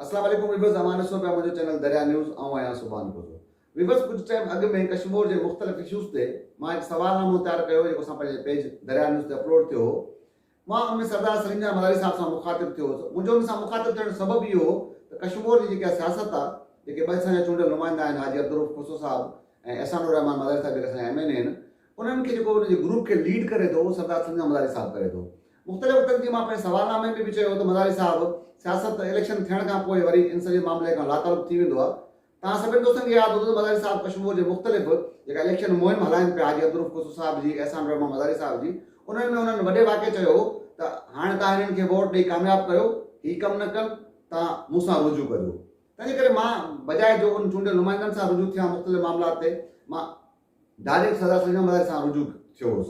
اسلام عليڪم ويوز اوهان ڏسو پيا منهنجو چينل دريا نيوز آئون آهيان سبحان گوزو ويوز ڪجهه ٽائيم اڳ ۾ ڪشمور جي مختلف اشوز تي مان هڪ سوال نامو تيار ڪيو هو جيڪو اسان پنهنجي پيج دريا نيوز تي اپلوڊ ٿيو هو مان ان ۾ سردار سليم جان ملاري صاحب سان مخاطب ٿيو هوس منهنجو ان سان مخاطب ٿيڻ جو سبب اهو هو ته ڪشمور جي جيڪا سياست آ جيڪي ٻه اسان جا چونڊيل نمائندا آهن حاجي عبدالروف کوسو صاحب ۽ احسان الرحمان ملاري صاحب جيڪي اسان جا ايم اين اي آهن انهن کي جيڪو ان جي گروپ کي ليڊ ڪري ٿو اهو سردار سليم جان ملاري صاحب ڪري ٿو مختلف وفدن جي مان پنهنجي سوال نامي ۾ به چيو هو ته مزاري صاحب سياست ته اليڪشن ٿيڻ کان پوء وري ان سڄي معاملي کان لاتعلق ٿي ويندو آهي توهان سڀني دوستن کي ياد هوندو ته مزاري صاحب ڪشمور جي مختلف جيڪا اليڪشن مهم هلائين پيا حاجي عبدالروف کوسو صاحب جي احسان الرحمان مزاري صاحب جي انهن ۾ انهن وڏي واڪي چيو هو ته هاڻي توهان هنن کي ووٽ ڏئي ڪامياب ڪيو هي ڪم نه ڪن توهان مون سان رجوع ڪجو تنهنجي ڪري مان بجاء جو ان چونڊيل نمائندن سان رجوع ٿيان مختلف معاملات تي مان ڊائريڪٽ سردار سليمان مزاري سان رجوع ٿيو هوس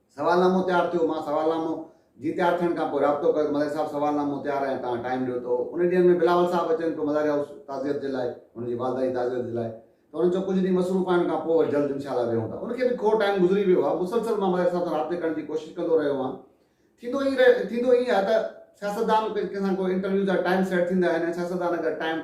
سوالنامو تيار ٿيو، مان سوالنامو جي تيار ٿيڻ کان پوء رابطو ڪيو ته ملاري صاحب سوالنامو تيار آهي ۽ توهان ٽائيم ڏيو ته ان ڏينهن ۾ بلاول صاحب اچن پيو ملاري هائوس تعزيت جي لاء هن جي والده جي تعزيت جي لاء ته هنن چيو ڪجهه ڏينهن مصروف آهن کان پوء وري جلد انشاءالله ويهون ٿا ان کي به کوڙ ٽائيم گذري ويو آهي مسلسل مان ملاري صاحب سان رابطي ڪرڻ جي ڪوشش ڪندو رهيو آهيان ٿيندو ائين ٿيندو ائين آهي ته سياستدان ڪنهن سان ڪو انٽرويو جا ٽائيم سيٽ ٿيندا آهن ۽ سياستدان اگر ٽائيم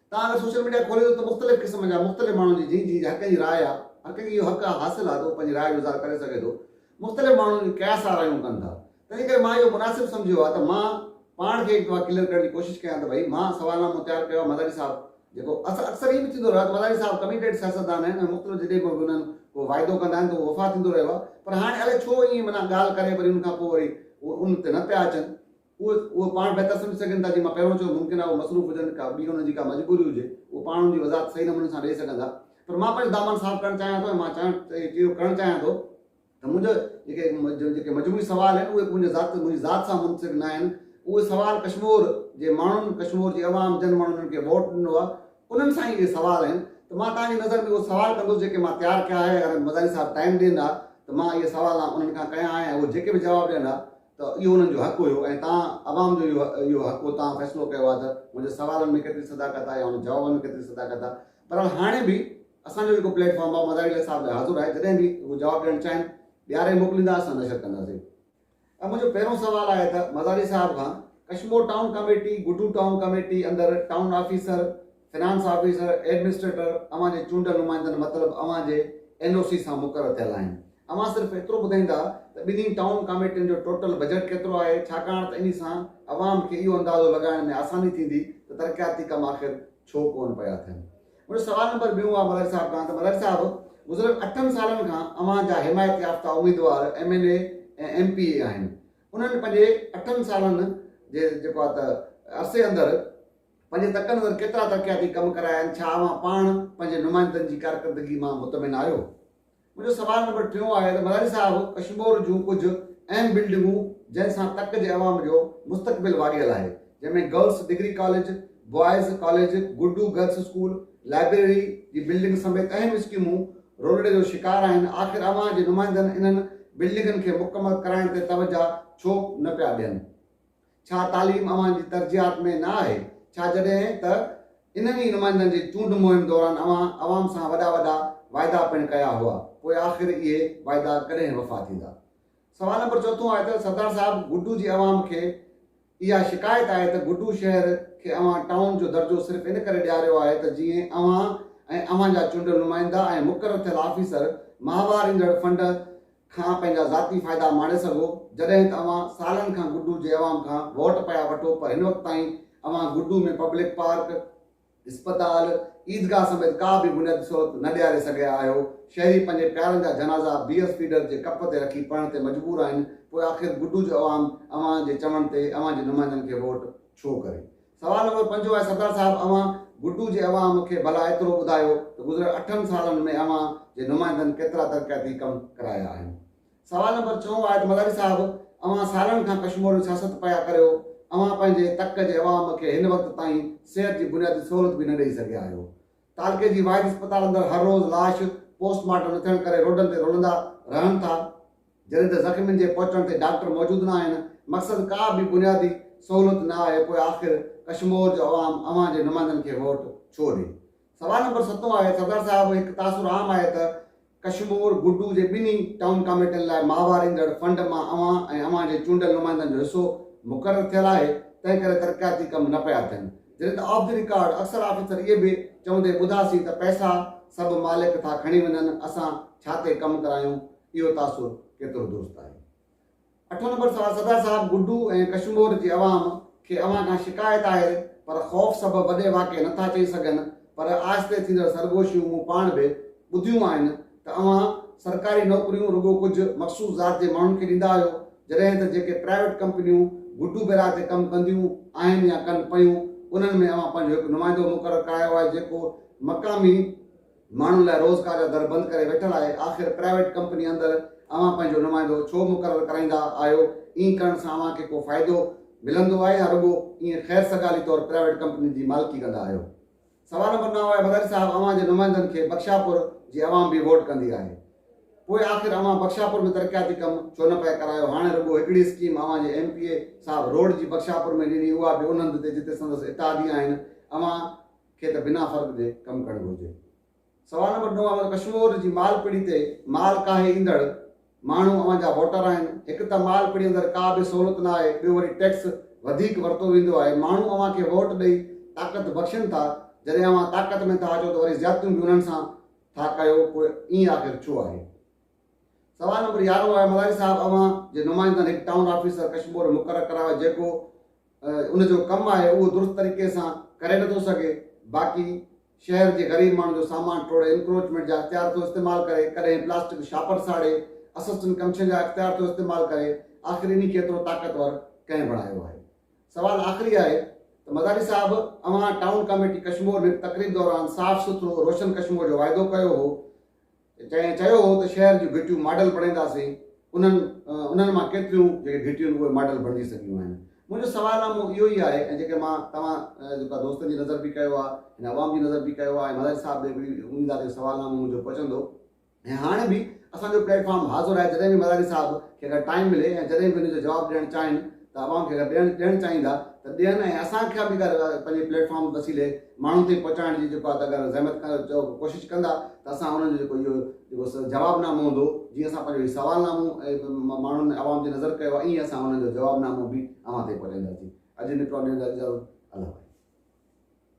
تان اگر سوشل ميڊيا کولي ٿو ته مختلف قسم جا مختلف ماڻهن جي جنهن جي حقن جي راء آ هر ڪنهن کي اهو حق آ حاصل آ ته هو پنهنجي راء جو اظهار ڪري سگهي ٿو مختلف ماڻهن جون ڪيا سا رايون ڪن ٿا تنهنجي ڪري مان اهو مناسب سمجهيو آ ته مان پاڻ کي هڪ دفعا ڪليئر ڪرڻ جي ڪوشش ڪيان ته ڀئي مان سوال نامو تيار ڪيو آ مزاري صاحب جيڪو اڪثر ائين به ٿيندو رهيو آ ته مزاري صاحب ڪميٽيڊ سياستدان آهن ۽ مختلف جڏهن به انهن ڪو واعدو ڪندا آهن ته اهو وفا ٿيندو رهيو آ پر هاڻي الائي ڇو ائين معنيٰ ڳالهه ڪري وري ان کان پوء وري ان تي نه پيا اچن اهي اهو پاڻ بهتر سمجهي سگهن ٿا، جيئن مان پهريون چيو ممڪن آهي اهي مصروف هجن، ڪا ٻي انهن جي ڪا مجبوري هجي، اهي پاڻ ان جي وضاحت صحيح نموني سان ڏئي سگهن ٿا، پر مان پنهنجو دامان صاف ڪرڻ چاهيان ٿو ۽ مان چاهڻ اهو ڪرڻ چاهيان ٿو ته منهنجا جيڪي جيڪي مجموعي سوال آهن اهي منهنجي ذات منهنجي ذات سان منسلڪ نه آهن، اهي سوال ڪشمور جي ماڻهن ڪشمور جي عوام جن ماڻهن انهن کي ووٽ ڏنو آهي انهن سان ئي اهي سوال آهن ته مان توهان جي نظر ۾ اهي سوال ڪندس جيڪي مان تيار ڪيا آهي اگر مزاري صاحب ٽائيم ڏين ها ته مان اهي سوال انهن کان ڪيا ها ۽ اهي جيڪي به جواب ڏين ها ته اهو انهن جو حق هيو ۽ توهان عوام جو اهو حق هو توهان فيصلو ڪيو آهي ته منهنجي سوالن ۾ ڪيتري صداقت آهي يا انهن جوابن ۾ ڪيتري صداقت آهي بهرحال هاڻي به اسان جو جيڪو پليٽ فارم آهي مزاري علي صاحب لاء حاضر آهي جڏهن به هو جواب ڏيڻ چاهين ڏياري موڪليندا اسان نشر ڪنداسين ۽ منهنجو پهريون سوال آهي ته مزاري صاحب کان Kashmore town committee Guddu town committee اندر town officer finance officer, administrator, اوهان جي چونڊيل نمائندن مطلب اوهان جي اين او سي سان مقرر ٿيل آهن. اوهان صرف ايترو ٻڌائيندا ته ٻنهي ٽائون ڪاميٽين جو ٽوٽل بجيٽ ڪيترو آهي ڇاڪاڻ ته انهي سان عوام کي اهو اندازو لڳائڻ ۾ آساني ٿيندي ته ترقياتي ڪم آخر ڇو ڪونه پيا ٿين. منهنجو سوال نمبر ٻيون آهي ملهاري صاحب کان ته ملهاري صاحب گذريل اٺن سالن کان اوهان جا حمايت يافته اميدوار M N A ۽ M P A آهن انهن پنهنجي اٺن سالن جي جيڪو آهي ته عرصي اندر پنهنجي تڪن اندر ڪيترا ترقياتي ڪم ڪرايا آهن؟ ڇا اوهان پاڻ پنهنجي نمائندن جي ڪارڪردگي مان مطمئن آهيو؟ منهنجو سوال نمبر ٽيون آهي ته مزاري صاحب ڪشمور جون ڪجهه اهم بلڊنگون جنهن سان تڪ جي عوام جو مستقبل واڳيل آهي جنهن ۾ girls degree college, boys college, Guddu girls school, library جي بلڊنگ سميت اهم اسڪيمون رولڙي جو شڪار آهن آخر اوهان جي نمائندن انهن بلڊنگن کي مڪمل ڪرائڻ تي توجهه ڇو نه پيا ڏين؟ ڇا تعليم اوهان جي ترجيحات ۾ نه آهي؟ ڇا جڏهن ته انهن ئي نمائندن جي چونڊ مهم دوران اوهان عوام سان وڏا وڏا واعدا پڻ ڪيا هئا، پوء آخر اهي واعدا ڪڏهن وفا ٿيندا؟ سوال نمبر چوٿون آهي ته سردار صاحب گڊو جي عوام کي اها شڪايت آهي ته گڊو شهر کي اوهان ٽائون جو درجو صرف ان ڪري ڏياريو آهي ته جيئن اوهان ۽ اوهان جا چونڊيل نمائندا ۽ مقرر ٿيل آفيسر ماهوار ايندڙ فنڊ کان پنهنجا ذاتي فائدا ماڻي سگهو جڏهن ته اوهان سالن کان گڊو جي عوام کان ووٽ پيا وٺو پر هن وقت تائين اوهان گڊو ۾ پبلڪ پارڪ، اسپتال، عيدگاهه سميت ڪا به بنيادي سهولت نه ڏياري سگهيا آهيو، شهري پنهنجي پيارن جا جنازا بيئر فيڊر جي ڪپ تي رکي پڙهڻ تي مجبور آهن پوء آخر گڊو جو عوام اوهان جي چوڻ تي اوهان جي نمائندن کي ووٽ ڇو ڪري سوال نمبر پنجون آهي سردار صاحب اوهان گڊو جي عوام کي ڀلا ايترو ٻڌايو ته گذريل اٺن سالن ۾ اوهان جي نمائندن ڪيترا ترقياتي ڪم ڪرايا آهن سوال نمبر ڇهون آهي ته مزاري صاحب اوهان سالن کان ڪشموري سياست پيا ڪريو اوهان پنهنجي تڪ جي عوام کي هن وقت تائين صحت جي بنيادي سهولت به نه ڏئي سگهيا آهيو تعلقي جي واحد اسپتال اندر هر روز لاش پوسٽ مارٽم نه ٿيڻ ڪري روڊن تي رلندا رهن ٿا جڏهن ته زخمين جي پهچڻ تي ڊاڪٽر موجود نه آهن، مقصد ڪا به بنيادي سهولت نه آهي پوء آخر ڪشمور جو عوام اوهان جي نمائندن کي ووٽ ڇو ڏي؟ سوال نمبر ستون آهي سردار صاحب هڪ تاثر عام آهي ته ڪشمور گڊو جي ٻنهي ٽائون ڪاميٽين لاء ماهوار ايندڙ فنڊ مان اوهان ۽ اوهان جي چونڊيل نمائندن جو حصو مقرر ٿيل آهي تنهن ڪري ترقياتي ڪم نه پيا ٿين جڏهن ته آف دي رڪارڊ اڪثر آفيسر اهي به چوندي ٻڌاسين ته پئسا سڀ مالڪ ٿا کڻي وڃن اسان ڇا تي ڪم ڪرايون اهو تاثر ڪيترو درست آهي. اٺون نمبر سوال صدر صاحب گڊو ۽ ڪشمور جي عوام کي اوهان کان شڪايت آهي پر خوف سبب وڏي واقعي نه ٿا چئي سگهن پر آهستي ٿيندڙ سرگوشيون مون پاڻ به ٻڌيون آهن ته اوهان سرڪاري نوڪريون رڳو ڪجهه مخصوص ذات جي ماڻهن کي ڏيندا آهيو جڏهن ته جيڪي پرائيويٽ ڪمپنيون گڊو بيراج تي ڪم ڪنديون آهن يا ڪن پيون انهن ۾ اوهان پنهنجو هڪ نمائندو مقرر ڪرايو آهي جيڪو مقامي ماڻهن لاء روزگار جا در بند ڪري ويٺل آهي، آخر پرائيويٽ ڪمپني اندر اوهان پنهنجو نمائندو ڇو مقرر ڪرائيندا آهيو، ائين ڪرڻ سان اوهان کي ڪو فائدو ملندو آهي يا رڳو ائين خير سگالي طور پرائيويٽ ڪمپنين جي مالڪي ڪندا آهيو. سوال نمبر نو آهي مداري صاحب اوهان جي نمائندن کي بخشاپور جي عوام به ووٽ ڪندي آهي پوء آخر اوهان بخشاپور ۾ ترقياتي ڪم ڇو نه پئي ڪرايو، هاڻي رڳو هڪڙي اسڪيم اوهان جي ايم پي اي صاحب روڊ جي بخشاپور ۾ ڏني اها به ان هنڌ تي جتي سندس اتحادي آهن اوهان کي ته بنا فرق جي ڪم ڪرڻ گهرجي. سوال نمبر نو آهي ته ڪشمور جي مال پڙي تي مال ڪاهي ايندڙ ماڻهو اوهان جا ووٽر آهن. هڪ ته مال پڙي اندر ڪا به سهولت نه آهي ٻيو وري ٽيڪس وڌيڪ ورتو ويندو آهي. ماڻهو اوهان کي ووٽ ڏئي طاقت بخشين ٿا جڏهن اوهان طاقت ۾ ٿا اچو ته وري زيادتيون به انهن سان ٿا ڪيو پوء ائين آخر ڇو آهي. سوال نمبر يارهون آهي مزاري صاحب اوهان جي نمائندن هڪ ٽائون آفيسر ڪشمور مقرر ڪرايو جيڪو ان جو ڪم آهي اهو درست طريقي سان ڪري نٿو سگهي باقي شهر جي غريب ماڻهن جو سامان ٽوڙي انڪروچمينٽ جا اختيار ٿو استعمال ڪري ڪڏهن پلاسٽڪ شاپر ساڙي اسسٽنٽ ڪمشن جا اختيار ٿو استعمال ڪري آخر انهي کي ايترو طاقتور ڪنهن بڻايو آهي سوال آخري آهي ته مزاري صاحب اوهان ٽائون ڪاميٽي ڪشمور ۾ تقريب دوران صاف سٿرو روشن ڪشمور جو واعدو ڪيو هو جنهن چيو هو ته شهر جون گهٽيون ماڊل بڻائينداسين، انهن انهن مان ڪيتريون جيڪي گهٽيون اهي ماڊل بڻجي سگهيون آهن. منهنجو سوال اهو اهو ئي آهي ۽ جيڪي مان توهان جيڪا دوستن جي نظر به ڪيو آهي، هن عوام جي نظر به ڪيو آهي ۽ ملائي صاحب ڏي به اميد آهي ته سوال نامو منهنجو پهچندو ۽ هاڻ به اسان جو پليٽ فارم حاضر آهي جڏهن به ملائي صاحب کي اگر ٽائيم ملي ۽ جڏهن به ان جو جواب ڏيڻ چاهين ته عوام کي اگر ڏيڻ چاهين ٿا ته ڏين ۽ اسان کي به اگر پنهنجي پليٽ فارم وسيلي ماڻهن تائين پهچائڻ جي جيڪو آهي ته اگر زحمت چئو ڪوشش ڪندا ته اسان انهن جو جيڪو اهو جيڪو جواب نامو هوندو جيئن اسان پنهنجو هي سوال نامو ماڻهن عوام جي نظر ڪيو آهي ائين اسان انهن جو جواب نامو به اوهان تائين پهچائينداسين اڄ نڪرو ڏيندا اجازت الله